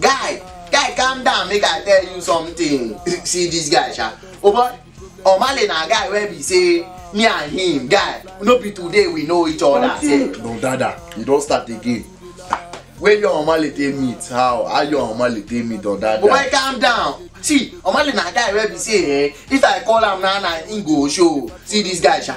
guy guy calm down make i tell you something see this guy sha oh boy omale na guy wey be say me and him guy no be today we know each other say no dada you don start again where your omale take meet how how your omale take meet don dada. oh boy calm down see omale na guy wey be say eh if i call am now na him go show see this guy sha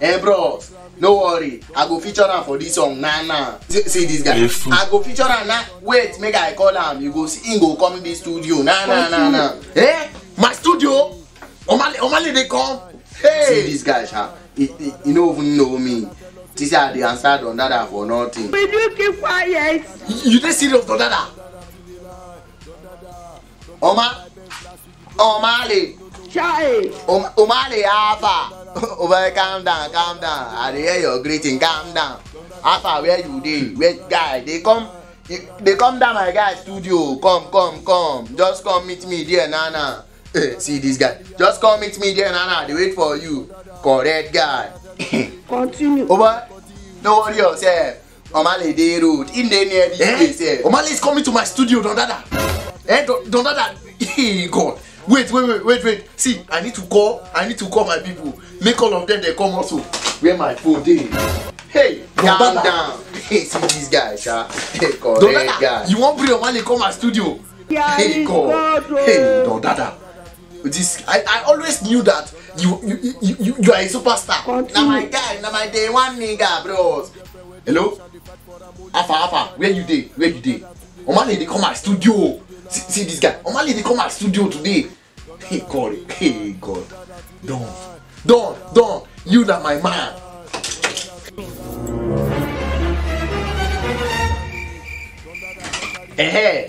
Eh bros, no worry, I go feature am for this song na na. See, see this guy, I go feature am na. Wait, make I call am, you go see him go come this studio na na na na. Eh, my studio? Omale, Omale dey come? Hey! See this guy sha, he, he, he no even know me. See say I dey answer don dada for nothing. Will you keep quiet? You dey serious don dada? ọma ọmali ọmali afa over calm down calm down i dey hear your greeting calm down afa where you dey where guy dey come dey come down my guy studio come come come just come meet me there na na eh, see this guy just come meet me there na na i dey wait for you correct guy. continue. over no worry yourself Omale dey road. He dey near the eh? place. Eh? Omale is coming to my studio, Don Dada. Eh, Don, Don Dada. Hey, God. Wait, wait, wait, wait, wait. See, I need to call. I need to call my people. Make all of them they come also. Where my phone dey? Hey, Don calm Dada. down. Hey, see this guy, sha. Hey, correct Don Dada, guy. You wan bring Omale come my studio? Yeah, hey, God. God. Oh. Hey, Don Dada. This I, I always knew that you you, you, you, you are a superstar. Now my guy, now my day one nigga, bros. Hello? Alpha, Alpha, where you dey? Where you dey? Omale dey come my studio. See, see this guy. Omale dey come my studio today. Hey God, hey God. Don, Don, Don, you na my man. Eh,